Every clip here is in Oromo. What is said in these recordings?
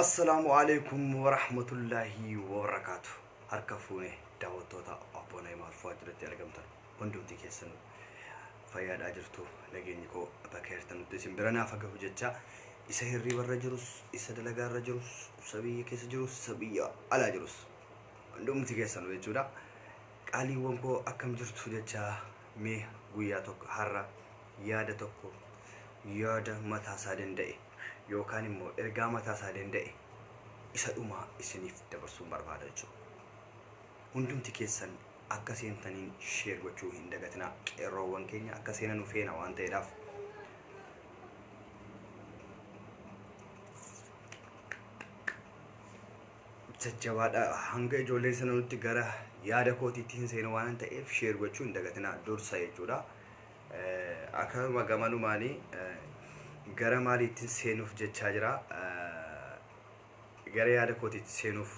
assalaamu alaikum warahmatullaahi wabarakaatu harka fuune daawwattoota abboo na'imaa arfaa jiratti argamtan hundumti keessan fayyaadhaa jirtu nageenyi koo bakka jirtan nutti isin bira naaf gahu jecha isa hirriba irra jirus isa dalagaa irra jirus isa biyya keessa jirus isa biyya alaa jirus hundumti keessan jechuudha qaaliiwwan koo akkam jirtu jecha Mee guyyaa tokko har'a yaada tokko yaada mataa isaa danda'e yookaan immoo ergaa mataa isaa danda'e isa dhumaa isiniif dabarsuun barbaada jechuudha. Hundumti keessan akka seentaniin sheer gochuu hin dagatinaa qeerroowwan keenya akka seenanu feena waan ta'eedhaaf. Jajjabaadha hanga ijoolleen sana nutti gara yaada kootiitti hin seenu waan ta'eef sheer gochuu hin dagatina dursa jechuudha. Akkasuma gamanumaanii gara maaliittiin seenuuf jechaa jira. Gara yaada kootiitti seenuuf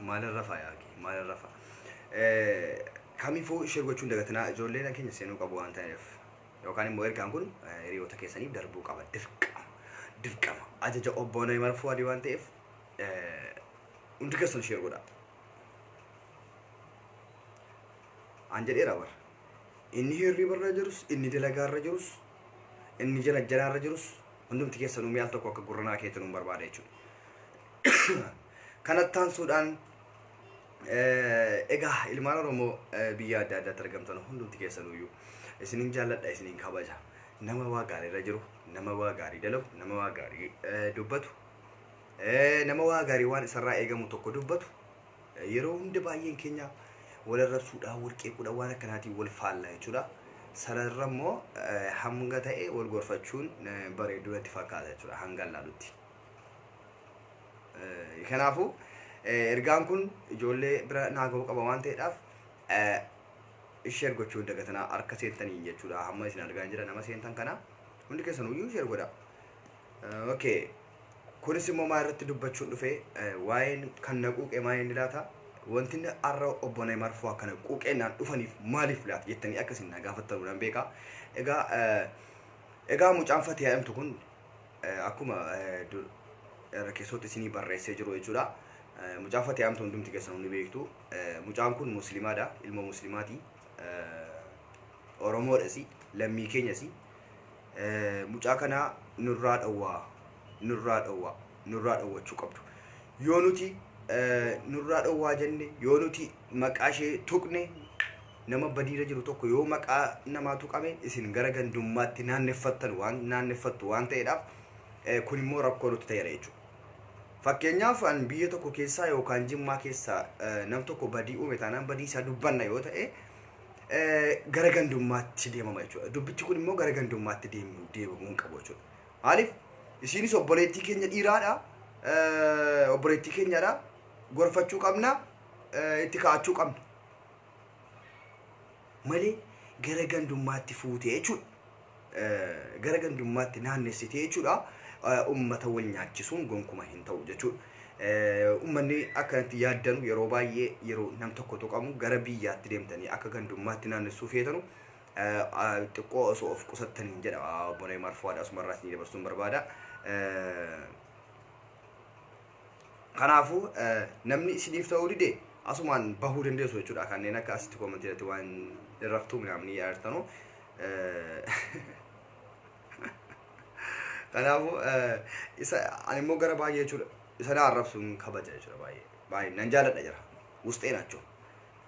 Maalin rafaa yaa kee maalin rafaa. Kamiifuu ishee gochuun dagatinaa ijoolleen keenya seenuu qabu waan ta'eef. Yookaan immoo ergaan kun hiriyoota keessaniif darbuu qaba dirqama. Dirqama ajaja obbo Nayimar Fuwaadii waan ta'eef hundi keessan ishee godha. An jedheera bara. Inni hirribarra jirus inni dalagaarra jirus Inni jira ejjanaa irra jirus hundumti keessanuu mee al tokko akka gurra naa keetanuun barbaada jechuudha. Kanatti aansuudhaan egaa ilmaan Oromoo biyya adda addaatti argamtan hundumti keessanuyyuu isinin jaalladha isinin kabaja. Nama waa gaarii irra jiru, nama waa gaarii dalagu, nama waa gaarii dubbatu, nama waa gaarii waan isarraa eegamu tokko dubbatu Yeroo hunda baay'een keenya wal arrabsuudhaan, wal qeequudhaan waan akkanaatiin wal faalla jechuudha. Sana irra immoo hanga ta'e wal gorfachuun bareedu natti fakkaata jechuudha hangan laalutti. Kanaafuu ergaan kun ijoollee bira naa ga'uu qaba waan ta'eedhaaf share gochuu hin dagatinaa harka seentaniin jechuudha. Hamma isin argaa hin jira nama seentan kana hundi keessan iyyuu share godhaa. Okay. Kunis immoo maa irratti dubbachuun dhufe? Waa'een kan na quuqe maa inni laata? Wanti inni har'a obbo Neeymaar fa'aa kana quuqeennaan dhufaniif maaliif laata jettanii akka isin na gaafattanu nan beeka. Egaa egaa mucaan Fatiyaa jedhamtu kun akkuma irra keessootti isinii barreessee jiru jechuudha. Mucaan Fatiyaa jedhamtu hundumti keessan hundi beektu. Mucaan kun musliimaadha, ilma musliimaati. Oromoodhasi, lammii keenyasi. Mucaa kana nurraa dhowwaa nurraa dhowwaa nurraa dhowwachuu qabdu yoo nuti nurraa dhowwaa jenne yoo nuti maqaa ishee tuqne nama badiira jiru tokko yoo maqaa namaa tuqame isin gara gandummaatti naanneffattan waan naanneffattu waan ta'eedhaaf kun immoo rakkoo nutti ta'eera jechuudha. Fakkeenyaaf an biyya tokko keessaa yookaan jimmaa keessaa nam tokko badii uume taanaan badii isaa dubbanna yoo ta'e gara gandummaatti deemama jechuudha. Dubbichi kun immoo gara gandummaatti deemu deemamuu hin qabu jechuudha. Maaliif isiinis obboleettii keenya dhiiraadha. Obboleettii keenyadha. Gorfachuu qabna. Itti kaa'achuu qabna. Malee gara gandummaatti fuutee jechuudha. gara gandummaatti naannessitee jechuudha ummata wal nyaachisuun gonkuma hin ta'u jechuudha. Ummanni akkanatti yaaddanu yeroo baay'ee yeroo nam tokko tuqamu gara biyyaatti deemtanii akka gandummaatti naannessuu feetanu xiqqoo osoo of qusattaniin jedha obbo Neemaar Fuwaad asumarraa isin dabarsuun barbaada. Kanaafuu namni isiniif ta'uu dide asumaan bahuu dandeessu jechuudha kanneen akka asitti koomantii irratti waan irraftuu minaamni yaartanu. Kanaafuu isa ani immoo gara baay'ee jechuudha isa na arrabsuun kabaja jechuudha baay'ee baay'ee nan jaaladha jira wusxee naachoo.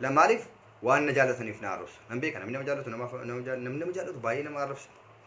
La maaliif waan na jaalataniif na arrabsu nan beeka namni nama jaallatu nama nama jaallatu baay'ee nama arrabsa.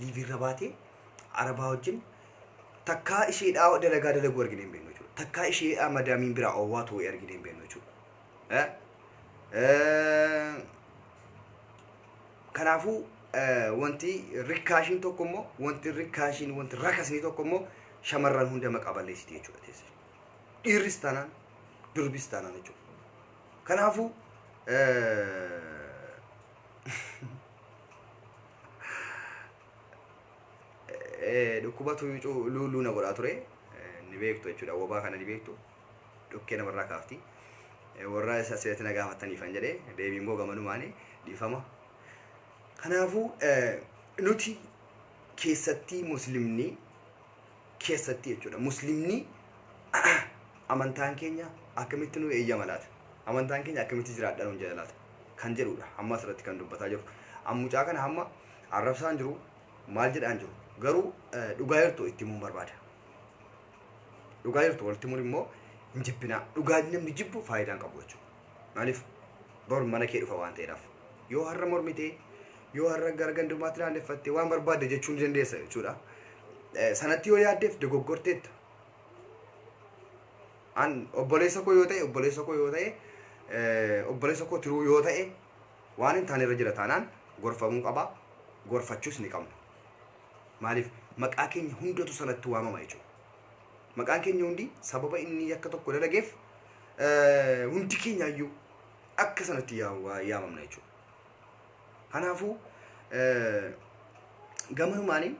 Liivii irra baatee arabaa wajjin takkaa isheedhaa dalagaa dalaguu argine hin beeknu jechuudha. Takkaa isheedhaa madaamiin biraa owwaa too'ee argine hin beeknu jechuudha. Eh? Eh, Kanaafuu eh, wanti rikkaashiin tokko immoo wanti rikkaashiin wanti rakasni tokko immoo shamarran hunda maqaa balleessiti jechuudha teessa. Dhiirris taanaan durbis taanaan jechuudha. Kanaafuu eh, Eh, dhukkubatu cu- luu luu na godhaa ture Eh, ni beektu jechuudha wabaa kana ni beektu dhukkee namarraa kaafti Eh, warra isa asirratti na gaafattaniifan jedhe deebiin koo gamanumaani dhiifama kanaafuu eh, nuti keessatti muslimni keessatti jechuudha muslimni amantaan keenya akkamitti nu eeyyama laata amantaan keenya akkamitti jiraadha nuun jedha laata kan jedhudha amma asirratti kan dubbataa jiru ammucaa kana hamma arrabsaan jiru maal jedhaan jiru garuu eh, dhugaa jirtu itti himuun barbaada dhugaa jirtu walitti himuun immoo hin jibbinaa dhugaa namni jibbu faayidaa hin qabu jechuudha Maaliif? Bor mana kee dhufa waan ta'eedhaaf. Yoo har'a mormite, yoo har'a gara gandummaatti naanneffatte waan barbaadde jechuu ni dandeessa jechuudha. Eh, Sanatti yoo yaaddeef dogoggorteetta. An obboleessa koo yoo ta'e, obboleessa koo yoo ta'e, eh, obboleessa koo tiruu yoo ta'e waan hin taane irra jira taanaan gorfamuu qaba. Gorfachuus ni qabna. Maaliif? Maqaa keenya hundatu sanatti waamama jechuudha. Maqaan keenya hundi sababa inni yakka tokko dalageef eh, hundi keenyaayyuu akka sanatti yaa- waa- yaamamna jechuudha. Kanaafuu eh, gamanumaanii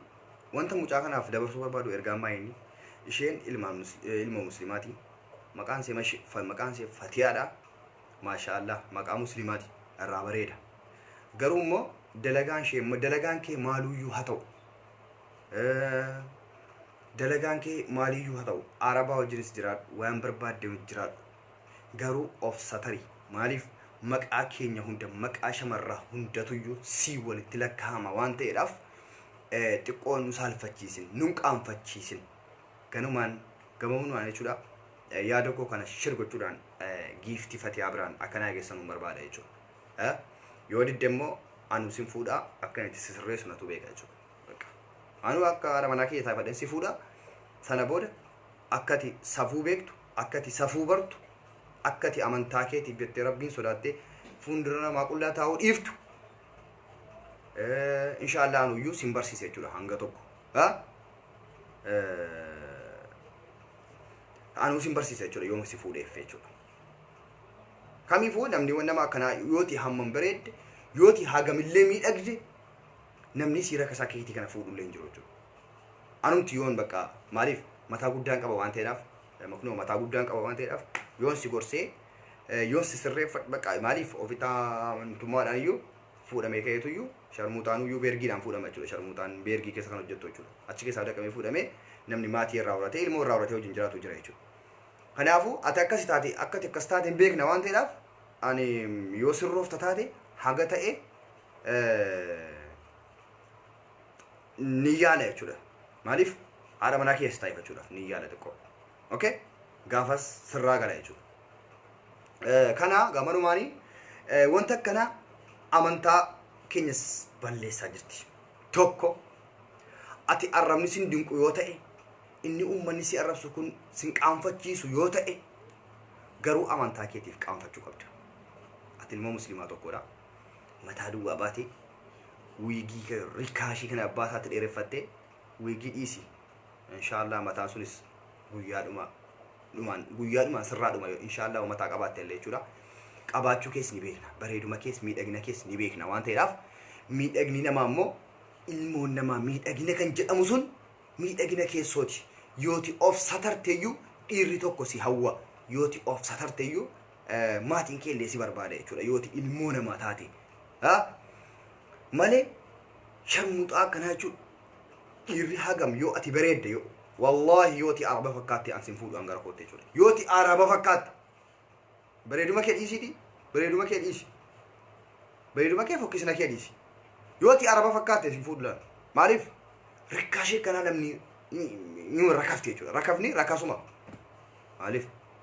wanta mucaa kanaaf dabarsuu barbaadu ergaa maayini isheen ilma mus- eh, ilma muslimaati maqaan ishee mash- fa- maqaan ishee fatiyaadha maashaa allah maqaa muslimaati irraa bareeda garuu immoo dalagaan ishee dalagaan kee maaluyyuu haa ta'u Eh, Dalagaan kee maaliyyuu haa ta'u Arabaa wajjinis jiraadhu waan barbaadde hojjiraadhu garuu of satari maaliif maqaa keenya hunda maqaa shamarraa hundatuyyuu sii walitti lakkaa'ama waan ta'eedhaaf xiqqoo nu saalfachiisin nun qaanfachiisin ganumaan gamamnumaan jechuudha yaada koo kana shir gochuudhaan giiftii fatiyaa biraan akka naa geessanuun barbaada jechuudha yoo didde immoo anu sin fuudhaa akkan itti sisirreessu natu beeka jechuudha Bakka. Anuu akka haadha manaa kiyya taafadhen si fuudha. Sana booda akka ati safuu beektu, akka ati safuu bartu, akka ati amantaa keetiif jettee Rabbiin sodaattee fuundura namaa qullaa taa'uu dhiiftu eh, inshaallah anuyyuu sin barsiisa jechuudha hanga tokko. Ha? Eh, Anuu sin barsiisa jechuudha yooma si fuudheef jechuudha. Kamiifuu namni nama akkanaa yooti hammam bareedde, yooti hagamillee miidhagde, Namnii siira akka isaa keetii kana fuudhu illee hin jiru jechuudha. Anumti yoon bakka maaliif mataa guddaan qaba waan ta'eedhaaf maknoo mataa guddaan qaba waan ta'eedhaaf yoon si gorsee yoon si sirreeffadhu bakka maaliif ofitaa amantummaadhaan iyyuu fuudhamee ka'eetu iyyuu sharmuuxaan iyyuu beergiidhaan fuudhama jechuudha. Sharmuuxaan beergii keessa kan hojjettu jechuudha. Achi keessaa daqamee fuudhamee namni maatii irraa horatee ilmoo irraa horatee wajjin jiraatu jira jechuudha. Kanaafuu ati akkasi taate akkati akkas taate hin beekna waan ta'eedhaaf ani yoo sirroofta taate haga ta'e ni yaala jechuudha. Maaliif haadha manaa keessa taa'eeffachuudhaaf ni yaala xiqqoo. Okay? Gaafas sirraa gala jechuudha. Kana gamanumaani wanta akkana amantaa keenyas balleessaa jirti. Tokko ati arrabni sin dinqu yoo ta'e inni uummanni si arrabsu kun sin qaanfachiisu yoo ta'e garuu amantaa keetiif qaanfachuu qabda. Ati ilmoo musliimaa tokkodha. mataa duwwaa baatee wiigii kee rikaashii kana abbaa isaatti dheereffattee wiigii dhiisi inshaallah mataan sunis guyyaa dhumaa dhumaan guyyaa dhumaan sirraa dhuma yoo inshaallah mataa qabaatte illee jechuudha qabaachuu kees ni beekna bareeduma kees miidhagina kees ni beekna waan ta'eedhaaf miidhagni namaa immoo ilmoon namaa miidhagina kan jedhamu sun miidhagina keessooti yooti of satarteeyyuu dhiirri tokko si hawwa yooti of satarteeyyuu maatiin kee illee si barbaada jechuudha yoo ati ilmoo namaa taate haa malee sharmuxaa akkanaa jechuudha dhiirri hagam yoo ati bareedde yoo wallaahi yoo ati araba fakkaatte an sin fuudhu an gara kootte jechuudha yoo ati araba fakkaatte bareeduma kee dhiisiiti bareeduma kee dhiisi bareeduma kee fokkisna kee dhiisi yoo ati araba fakkaatte sin fuudhu laata maaliif rakkaashee kanaa namni ni rakafte jechuudha rakafni rakasuma maaliif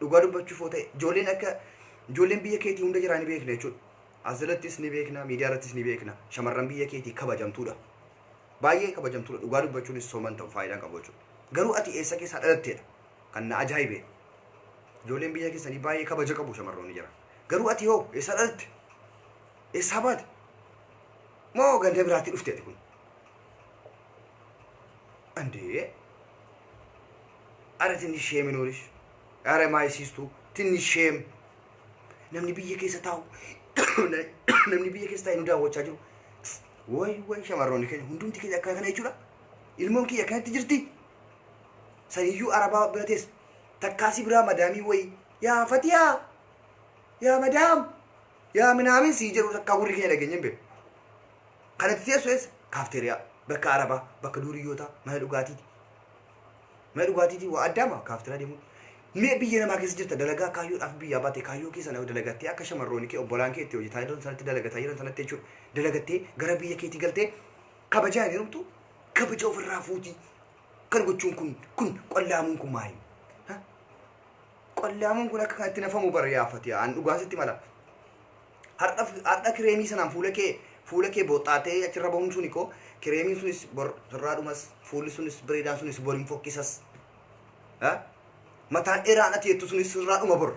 Dhugaa dubbachuuf yoo ta'e ijoolleen akka ijoolleen biyya keetii hunda jiraa ni beekna jechuudha. Asirattis ni beekna, miidiyaa irrattis ni beekna. Shamarran biyya keetii kabajamtuudha. Baay'ee kabajamtuudha. Dhugaa dubbachuunis soman ta'u faayidaan qabu jechuudha. Garuu ati eessa keessaa dhalatteedha? Kan na ajaa'ibe. Ijoolleen biyya keessanii baay'ee kabaja qabu shamarroonni jira. Garuu ati hoo eessaa dhalatte? Eessaa baate? Moo ganda biraatti dhufte ati kun? Andee Are tinnish shame nuurish. Are my sistu tinnish shame. Namni biyya keessa taa'u namni biyya keessa taa'e nu daawwachaa jiru. Way way shamarroonni keenya hundumti keenya akkana kana jechuudha. Ilmoon kiyya akkanatti jirti. Saniyyuu arabaa bira teessa. Takkaasii biraa madaamii wayii. Yaa fatiyaa. Yaa madaam. Yaa minaamin sii jedhu takkaa gurri keenya dhageenye hin beeku. Kanatti teessu eessa? Kaafteeriyaa. Bakka arabaa, bakka duuriyyootaa, mana dhugaatiiti. Mana dhugaatiitii waa addaama kaaftiraa deemuun. Mee biyya namaa keessa jirta dalagaa kaayyoodhaaf biyyaa baate kaayyoo kee sana dalagattee akka shamarrooni kee obbolaan kee itti hojjetaa jiran sanatti dalagataa jiran sanatti jechuudha. Dalagattee gara biyya keetii galtee kabajaa hin hirumtu kabaja ofirraa fuutii kan gochuun kun kun qollaamuun kun maali? Qollaamuun kun akka kanatti nafamu bara yaafati aan dhugaan sitti mala. Hardha hardha kireemii sanaan fuula kee fuula kee booxxaatee achirra bahuun suni koo kireemiin sunis bor sirraa dhumas fuulli sunis bareedaan sunis bor hin fokkisas. Ha? Mataan dheeraan ati jettu sunis sirraa dhuma bor.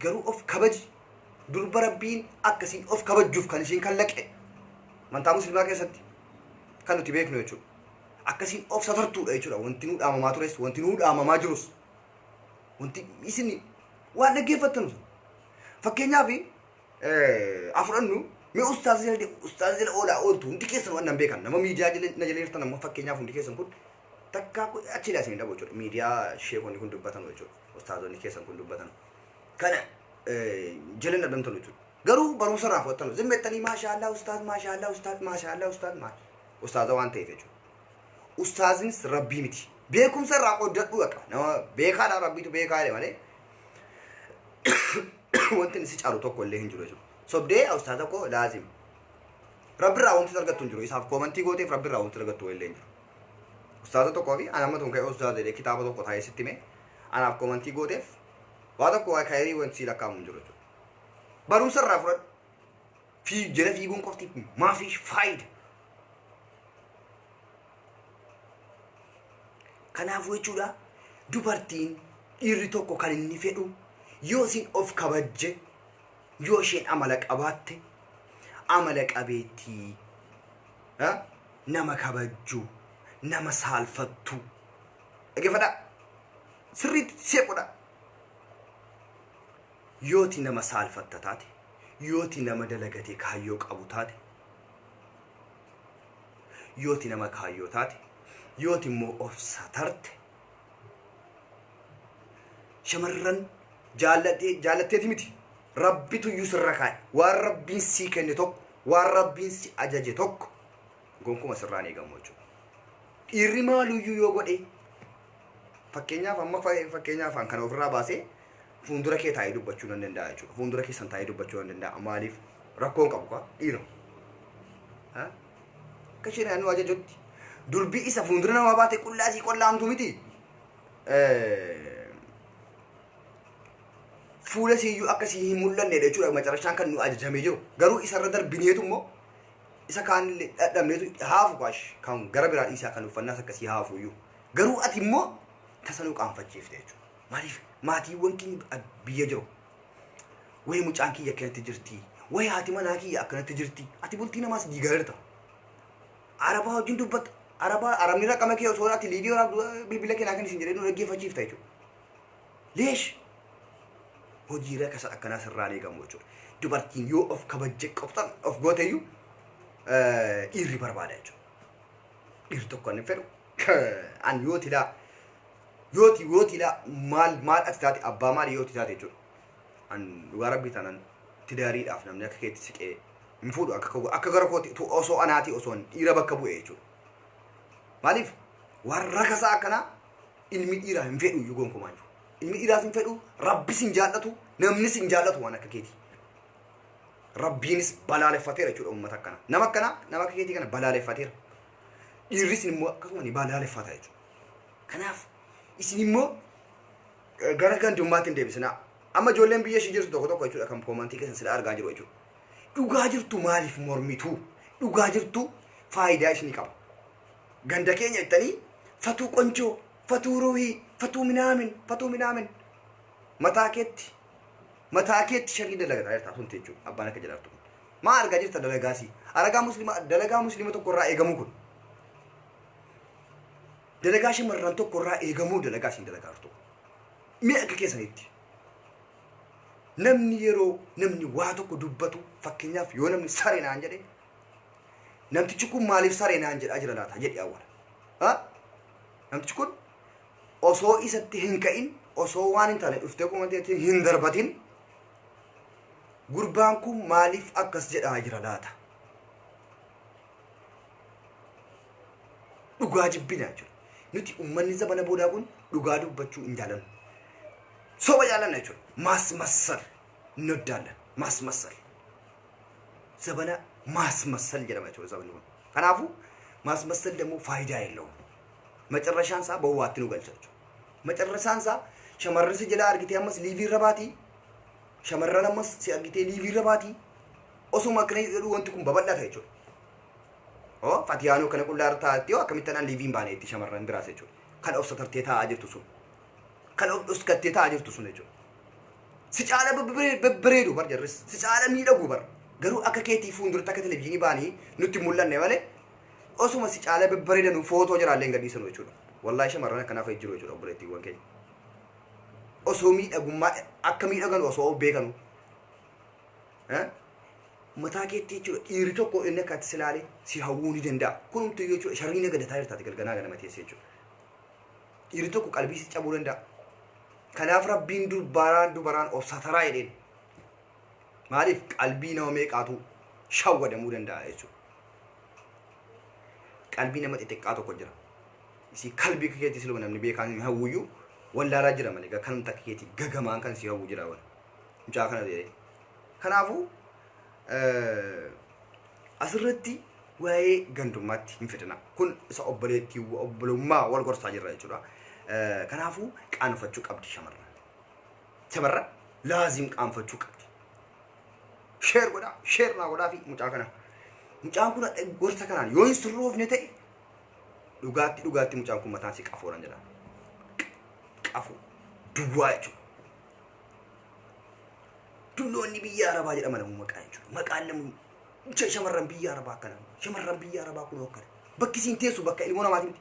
Garuu of kabaji. Durba rabbiin akkasiin of kabajjuuf kan ishiin kallaqe. Amantaa muslimaa keessatti kan nuti beeknu jechuudha. Akkasiin of satartuudha jechuudha. Wanti nuu dhaamamaa tures, wanti nuu dhaamamaa jirus. Wanti isin waan dhaggeeffattan sun. Fakkeenyaaf haa fudhannu mee ustaaza jala de- ustaaza jala oolaa ooltu hundi keessan waan nan beekan nama miidiyaa jala na jala jirtan amma fakkeenyaaf hundi keessan kun takkaa kun achi ilaa isin hin dhabu jechuudha miidiyaa sheekonni kun dubbatan jechuudha ustaazonni keessan kun dubbatan kana eh, jala hin dhabamtan jechuudha garuu barumsa irraa fudhattan zimmettanii maashaallah ustaaz maashaallah ustaaz maashaallah ustaaz maa ustaaza waan ta'eef jechuudha ustaazinis rabbii miti beekumsa irraa qooddadhuu baqa nama beekaadha rabbiitu beekaa jedhe malee wanti inni si caalu tokko illee hin jiru jechuudha. Sobdee ustaa tokko laazim. Rabbi irraa wanti argattu hin jiru. Isaaf koomantii gooteef rabbi irraa wanti argattu illee hin jiru. Ustaaza tokkoo fi ana ammatuun ka'ee ustaaza jedhee kitaaba tokko taa'ee sitti mee anaaf koomantii gooteef waa tokko waa kaayirii wanti sii lakkaa'amu hin jiru jechuudha. Barumsa irraa fudhadhu. Fii jala fiiguun qofti maafi faayida. Kanaafuu jechuudha dubartiin dhiirri tokko kan inni fedhu yoo isin of kabajje yoo isheen amala qabaatte amala qabeettii ha? nama kabajju nama saalfattu dhaggeeffadha sirriitti seequdha yooti nama saalfatta taate Yooti nama dalagatee kaayyoo qabu taate, yooti nama kaayyoo taate, yooti immoo of satarte, shamarran jaalladhee, jaallatteeti miti. Rabbitu iyyuu sirra kaa'e. Waan Rabbiin sii kenne tokko, waan Rabbiin si ajaje tokko gonkuma sirraan eegamu jechuudha. Dhiirri maaluyyuu yoo godhee Fakkeenyaaf amma fakkeenyaaf kana ofirraa baasee fuuldura kee taa'ee dubbachuu nan danda'a jechuudha. Fuuldura keessan taa'ee dubbachuu nan danda'a. Maaliif rakkoon qabu kaa dhiira. Akka isheen naannoo ajajutti durbii isa fuuldura namaa baatee qullaa isii qollaamtu miti. Fuula isii iyyuu akka isii hin mul'anne jechuudha macarashaan kan nu ajajamee jiru. Garuu isarra darbineetu immoo isa kaanillee dhadhabneetu haafu kaash kan gara biraa dhiisaa kan uffannaa akkasii haafu iyyuu. Garuu ati immoo tasa nu qaanfachiifte jechuudha. Maaliif maatiiwwan keenya biyya jiru. Wayi mucaan kiyya akkanatti jirti. Wayi haati manaa kiyya akkanatti jirti. Ati bultii namaas diigareerta. Arabaa wajjin dubbatta. Arabaa arabni raqama kee osoo ati liivii waraabdu bilbila kee naa kenni siin jedhee nu dhaggeeffachiifta jechuudha. Leesh hojii rakasa akkanaa sirraa hin eegamu jechuudha. Dubartiin yoo of kabajje qoftan of gooteyyuu dhiirri barbaada jechuudha. Dhiirri tokko hin fedhu. an yoo tilaa yoo ti yoo tilaa maal maal ati taate abbaa maali yoo ti taate jechuudha an dhugaa rabbii tanan tidaariidhaaf namni akka keetti siqee hin fuudhu akka koo- akka gara kooti tu osoo anaati osoo an dhiira bakka bu'e jechuudha maaliif waan rakasaa akkanaa ilmi dhiiraa hin fedhu iyyuu gonkumaa jiru ilmi dhiiraas hin fedhu rabbis hin jaallatu namnis hin jaallatu waan akka keetii rabbiinis balaaleffateera jechuudha uummata akkana nama akkana nama akka keetii kana balaaleffateera Dhiirris immoo akkasuma ni balaaleffata jechuudha. Kanaaf isin immoo eh, gara gandummaatti hin deebisinaa. Amma ijoolleen biyya ishee jirtu tokko tokko jechuudha kan koomantii keessan sila argaa jiru jechuudha. Dhugaa jirtu maaliif mormituu? Dhugaa jirtu faayidaa isinii qaba. Ganda keenya jettanii fatuu qonjoo, fatuu ruuhii, fatuu minaamin, fatuu minaamin. Mataa keetti mataa keetti sharrii dalagataa jirta asunti jechuudha abbaan akka jedhaartu kun. Maa argaa jirta dalagaa sii. Aragaa muslima dalagaa muslima tokko irraa eegamuu kun. Dalagaa shamarran tokko irraa eegamuu dalagaa siin dalagaa jirtu. Mee akka keessanitti. Namni yeroo namni waa tokko dubbatu fakkeenyaaf yoo namni saree naan jedhe namtichi kun maaliif saree naan jedhaa jira laata jedhi awwala. Ha? Namtichi kun osoo isatti hin ka'in osoo waan hin taane dhuftee komanteetiin hin darbatin Gurbaan kun maaliif akkas jedhaa jira laata? Dhugaa jibbina jechuudha. Nuti uummanni zamana boodaa kun dhugaa dubbachuu hin jaalannu. Soba jaalanna jechuudha. Maas massal hin hoddaallan. Maas massal. Zabana maas massal jedhama jechuudha sabni kun. Kanaafuu maas massal dammoo faayidaa hin qabu. Macarrashaan isaa bowwaatti nu galcha jechuudha. Macarrasaan isaa shamarran si jalaa argitee ammas liivii irra baati. Shamarran ammas si argitee liivii irra baati. Osuma akkana jedhu wanti kun babal'ata jechuudha. Oo fatiyaanoo kana qullaa irra taa'atti yoo akkamitti anaan liiviin baane itti shamarran biraas jechuudha. Kan of satartee taa'aa jirtu sun. Kan of dhuskattee taa'aa jirtu sun jechuudha. Si caala babbare- babbareedu bar jarris. Si caala miidhagu bar. Garuu akka keetii fuulduratti akka televizyiinii baanii nutti hin mul'anne malee osuma si caalee babbareedanu footoo jaraallee hin gadhiisanu jechuudha. Wallaahi shamarran akkanaa fa'i jiru jechuudha obboleettiiwwan keenya. Osoo miidhagummaa akka miidhaganu osoo of beekanu. Eh? Mataa keetti jechuudha dhiirri tokko inni akka ati si ilaalee si hawwuu ni danda'a. Kunumtuu jechuudha sharrii na gadataa jirtaati galganaa ganama teessee jechuudha. Dhiirri tokko qalbii si cabuu danda'a. Kanaaf rabbiin durbaaraan dubaraan of sataraa jedheen. Maaliif qalbii nama meeqaatu shawwadamuu danda'a jechuudha. Qalbii nama xixiqqaa tokko jira. Isii kalbii akka keetii siluma namni beekaan hin hawwuyyu wallaalaa jira malee gaa kanumti akka keetii gagamaan kan si hawwu jira wan. Mucaa kana ta'ee. Kanaafuu eh, asirratti waa'ee gandummaatti hin fidina. Kun isa obboleettii obbolummaa wal gorsaa jirra jechuudha. Eh, Kanaafuu qaanfachuu qabdi shamarran. Shamarran laazim qaanfachuu qabdi. Sheer godhaa, sheer naa godhaa fi mucaa kana. Mucaan kun hadha gorsa kanaan yoo hin sirroofne ta'e dhugaatti dhugaatti mucaan kun mataan si qafoodhaan jedha. Qafoo duwwaa jechuudha. Dulloonni biyya arabaa jedhama namuu maqaa jechuudha. Maqaan namuu shamarran biyya arabaa akkana. Shamarran biyya arabaa kun akkana. Bakki isiin teessu bakka ilmoo namaati miti.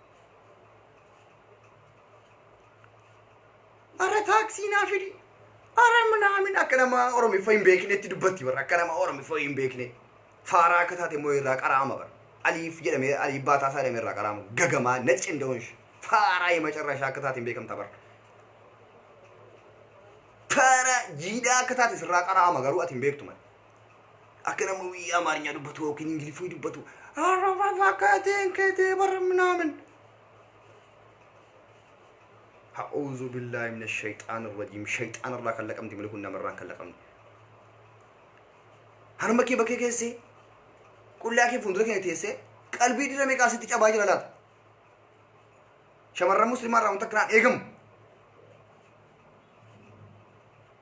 Ara taaksii naa fidi. Ara minaamin akka nama Oromiffa hin beeknetti dubbatti bara akka nama Oromiffa hin beekne. Faaraa akka taate immoo irraa qaraama bara. Aliif jedhamee aliif baataa isaa jedhamee irraa qaraama. Gagamaa nacci hin da'uun ishee. Faaraa hima carraa ishee akka taate hin beekamta bara. Faaraa jiidhaa akka taate sirraa qaraama garuu ati hin beektu mali. akka nama wii amaarinya dubbatu yookiin ingiliffii dubbatu arraba fakkaateen keetee bara minaamin ha'uuzu billaahi mina shayxaan irrajiim shayxaan irraa kan laqamti mali kun namarraan kan laqamne harma kee bakkee keessee qullaa kee fuuldura keenya teessee qalbii dhira meeqaa sitti cabaa jira laata shamarran muslimaa irraa wanta akkanaan eegamu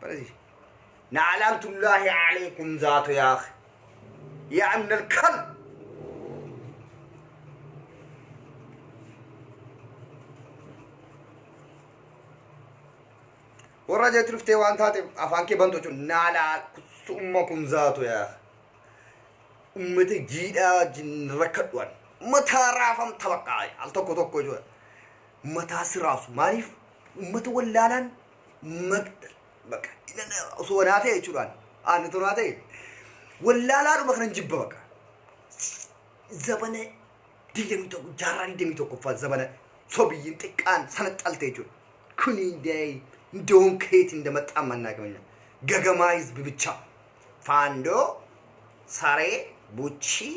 Barasi. Na'alaamtullaahi alaikum zaatu yaa akhi. Yaa amnal kal. Warra jeetti dhuftee waan taate afaan kee bantu jechuun naalaa summa kun zaatu yaa akhi. Ummata jiidhaa wajjin rakkadhuwan. Mataa raafamta baqqaa al tokko tokko jechuudha. Mataa si raafsu maaliif Uummata wallaalaan baqa osoo anaa ta'e jechuudhaan aanna toraa ta'e wallaalaadhuma kanan jibba baqa. Zabana digdamii tokko jaarraa digdamii tokkoffaa zabana sobiyyiin xiqqaan sana xalte jechuudha. Kuni day doon keeti inda maxxaan mannaa qabanya. Gagamaa hizbi bichaa. Faandoo saree buchii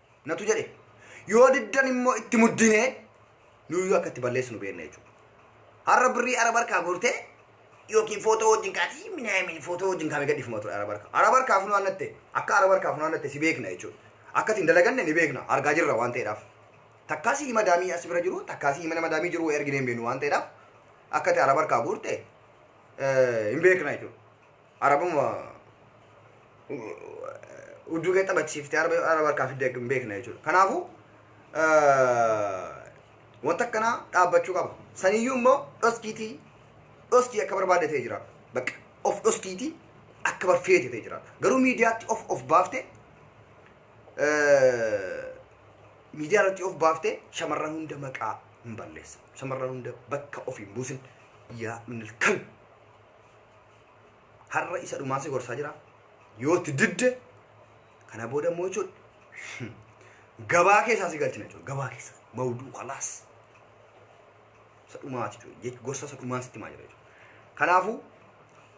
natu jedhe yoo diddan immoo itti muddinee nuyyuu akka itti balleessinu beekna jechuudha. Har'a birrii araba harkaa gortee yookiin footoo wajjin kaatee minaamin footoo wajjin kaamee gadhiifama ture araba harkaa. Araba harkaa funaannatte akka araba harkaa funaannatte si beekna jechuudha. Akka isin dalaganne ni beekna argaa jirra waan ta'eedhaaf. Takkaa si hima daamii as bira jiru takkaa si hima nama daamii jiru erginee hin beeknu waan ta'eedhaaf akka itti araba harkaa guurte hin beekna jechuudha. Arabuma udduu kee taphachiiftee araba yoo araba harkaa fiddee hin beekne jechuudha. Kanaafuu wanta akkanaa dhaabbachuu qaba. Saniyyuu immoo dhoskiitii dhoskii akka barbaadde ta'e jira. Bakka of dhoskiitii akka barfeete ta'e jira. Garuu miidiyaatti of of baafte miidiyaa irratti of baafte shamarran hunda maqaa hin balleessa. Shamarran hunda bakka of hin buusin. Yaa minil kalbi. Har'a isa dhumaa si gorsaa jira. Yoo itti didde kana booda immoo jechuudha. Gabaa keessaa si galchina jechuudha. Gabaa keessa. Mawduu kalaas. Isa dhumaati jechuudha. Gorsa isa dhumaa sitti maa jira jechuudha. Kanaafuu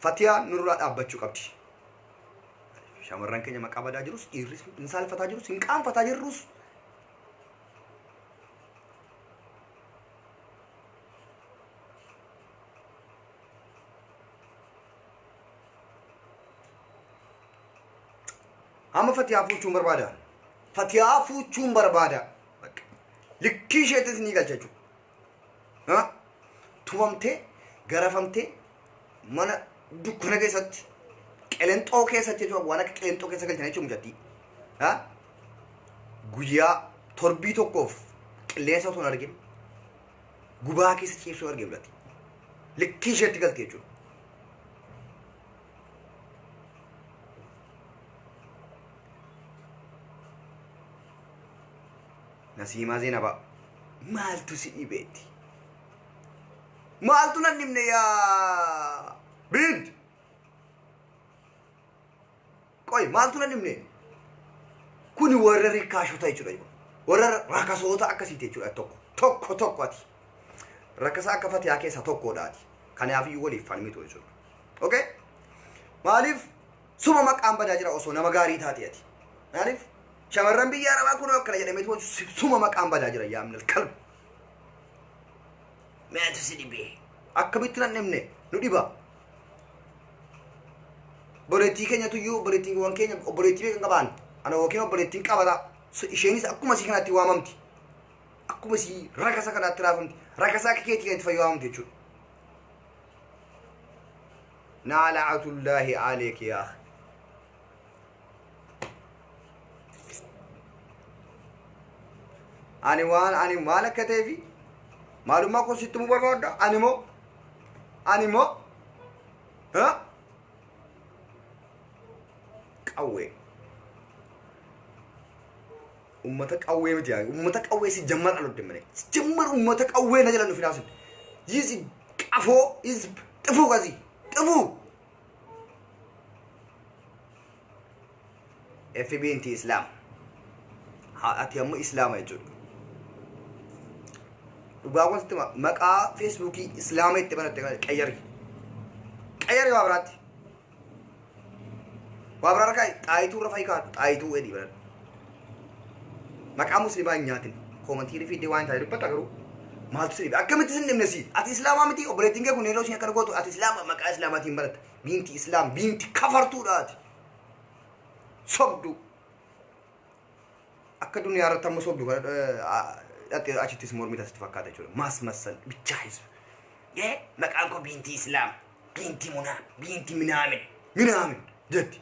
Fatiyaan nurraa dhaabbachuu qabdi. Shamarran keenya maqaa badaa jirus dhiirris hin saalfataa jirus hin qaanfataa jirrus amma fatiyaa fuuchuun barbaada fatiyaa fuuchuun barbaada Bakka. likkii isheetis ni galcha jechuudha Ha? tumamtee garafamtee mana dukkana keessatti qelenxoo keessatti jechuudha waan akka qelenxoo keessa galchan jechuudha mucattii Ha? guyyaa torbii tokkoof qilleensa osoo hin argin gubaa keessa ciibsuu arge mul'atti likkii isheetti galti jechuudha. Nasiimaa Zeenabaa maaltu si dhibeetti? Maaltu nan dhibne yaa biinti? Qoy maaltu na dhibne? Kuni warra rikkaashota jechuudha jechuudha. Warra rakasoota akkasiiti jechuudha tokko. Tokko tokko ati. Rakasa akka fatiyaa keessa tokkodha ati. Kanaaf iyyuu waliif falmitu jechuudha. Okay? Maaliif suma maqaan badaa jira osoo nama gaarii taate ati. Maaliif shamarran biyya arabaa kun akkana jedhameetu suma maqaan badaa jira yaamnil kalbu. Meetu si dhibee. Akkamitti nan dhibne nu dhiba. obboleettii keenyatu iyyuu obboleettiiwwan keenya obboleettii beekan qabaan ana yookiin obboleettiin qabata So, isheenis akkuma isii kanaatti waamamti akkuma isii rakasa kanaatti raafamti rakasa akka keetii kanatti fayyadamamti jechuudha naala'atullaahi aleeki yaa akhi. ani waan ani maal akka ta'ee fi maalummaa koo sitti himuu barbaadda ani moo ani moo ha? qawwee ummata qawwee miti yaa ummata qawwee si jammar alodde malee si jammar ummata qawwee na jala nufi naasin yisi qafoo is xifuu qasi xifuu fb inti islaam Ha- ati ammoo islaama jechuudha dhugaawwan sitti hima. maqaa feesbuukii islaama itti banatte kana qayyari qayyari waa biraatti waa biraa rakaa'i xaayituu irra fa'i kaadhu xaayituu edii banadhu maqaa muslimaa hin nyaatin koomantii irra fiiddee waan hin taane dubbatta garuu maaltu sirriidha akkamitti sin dhimne si ati islaamaa miti obboleettiin kee kun yeroo isheen akkana gootu ati islaama maqaa islaamaatiin baratta biinti islaam biinti kafartuudha ati sobduu akka duniyaa irratti amma sobdu kana dhattee achittis mormii tasitti fakkaata jechuudha maas massal bichaa hisu yee maqaan koo biinti islaam biinti munaa biinti minaamin minaamin jetti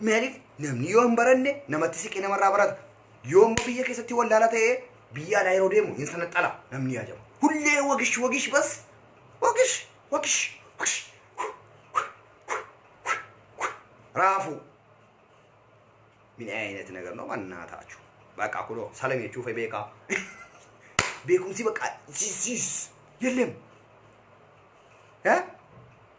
Maaliif namni yoo hin baranne namatti siqee namarraa barata. Yoo immoo biyya keessatti wallaalaa ta'ee biyya alaa yeroo deemu hin sanaxala namni yaajama. Hullee wagish wagish bas wagish wagish wagish raafuu. Min ayinati nagar noo mannaa taachuu. Baqaa kuloo salam jechuu fa'ii beekaa. Beekumsi baqaa siis siis yellem. Eh?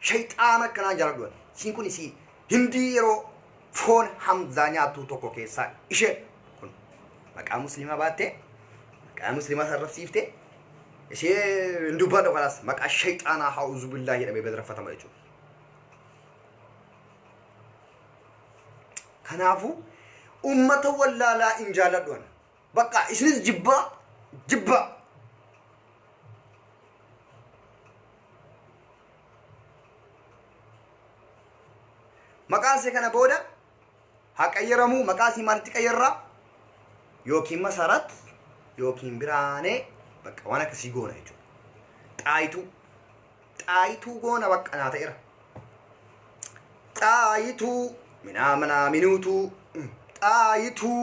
Sheyxaana akkanaa jaaladhu ati. Isiin kun isii hindii yeroo foon hamzaa nyaattuu tokko keessaa ishee kun maqaa muslimaa baattee maqaa muslimaa sarrafsiiftee ishee hin dubbadhu kanaas maqaa sheyxaanaa ha'uuzu billaa jedhamee bedraffatama jechuudha. Kanaafuu ummata wallaalaa hin jaaladhu ani. Bakka isinis jibbaa jibbaa. Maqaan see kana booda haa qayyaramu maqaa sii maalitti qayyarraa yookiin masarat yookiin biraanee bakka waan akkasii goona jechuudha. Xaayituu xaayituu goona bakka naa ta'eera. Xaayituu minaa minaa minuutuu xaayituu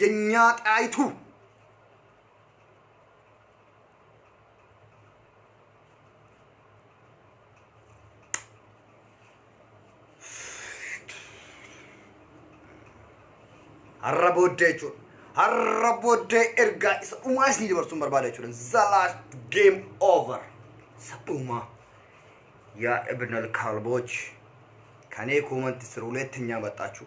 Yenyaa xaayituu. Har'a booddee jechuudha. Har'a booddee ergaa isa dhumaa isinii dabarsuun barbaada jechuudha. The last game over. Isa dhumaa. Yaa Ibn al-Kalbooch. Kanee kuumanti siruuleetti nyaabaxxaachuu.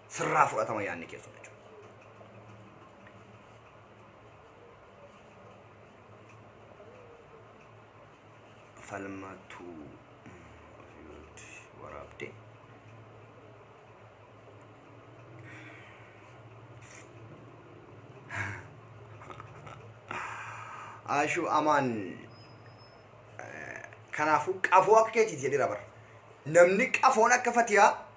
sirraa fudhatama yaanni keessan jechuudha. Falmatu waraabde. Ashuu amaan kanaafuu qafoo akka keetiiti jedhira bara. Namni qafoon akka fatiyaa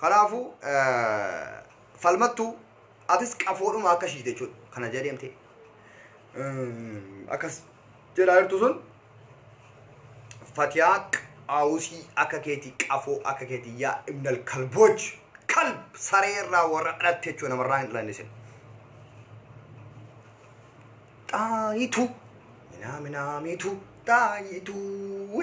Kanaafuu falmattuu atis qafoodhuma akka shiite jechuudha. Kana jala deemtee akkas jedhaa jirtu sun fatiyaa qaawusii akka keetii qafoo akka keetii yaa ibnal kalbooch kalb saree irraa warra dhalatte jechuudha namarraa hin dhalanne sin. Xaayituu minaa minaa miituu xaayituu.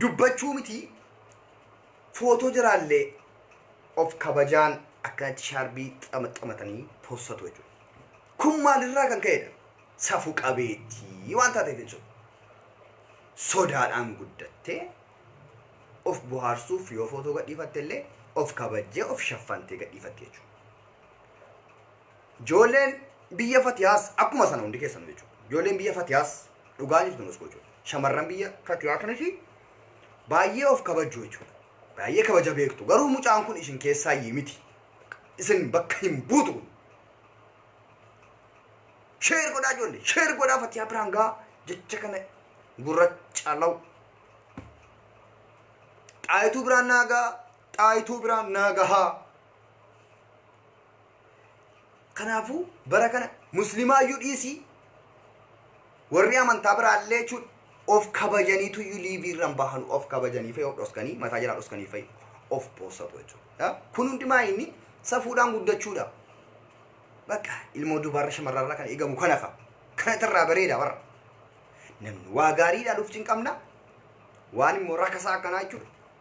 dubbachuu mitii footoo jaraallee of kabajaan akkanatti shaarbii xamaxamatanii possatu jechuudha. Kun maalirraa kan ka'edha? Safu qabeettii waan taateef jechuudha. Sodaadhaan guddattee of bohaarsuuf yoo footoo gadhiifatte illee of kabajjee of shaffantee gadhiifatte jechuudha. Ijoolleen biyya Fatiyaas akkuma sana hundi keessan jechuudha. Ijoolleen biyya Fatiyaas dhugaa jirtu nus jechuudha. Shamarran biyya Fatiyaa kanas baay'ee of kabajju jechuudha. Baay'ee kabaja beektu. Garuu mucaan kun isin keessaa iyyii miti. Isin bakka hin buutu kun. Sheer godhaa ijoollee. Sheer godhaa Fatiyaa biraan gaa jecha kana gurracha law. Xaayituu biraan naagaa. Xaayituu biraan naagahaa. Kanaafuu bara kana muslimaayyuu dhiisii warri amantaa biraallee jechuun of kabajaniitu iyyuu liivii irra hin bahanu of kabajanii fa'i of dhoskanii mataa jalaa dhoskanii fa'i of poosatu jechuudha. Kun hundumaa inni safuudhaan guddachuudha. Bakka ilmoo dubaarra shamarrarra kan eegamu kana fa'a. Kana irraa bareeda warra. Namni waa gaarii ilaaluuf cinqamna waan immoo rakasaa akkanaa jechuudha.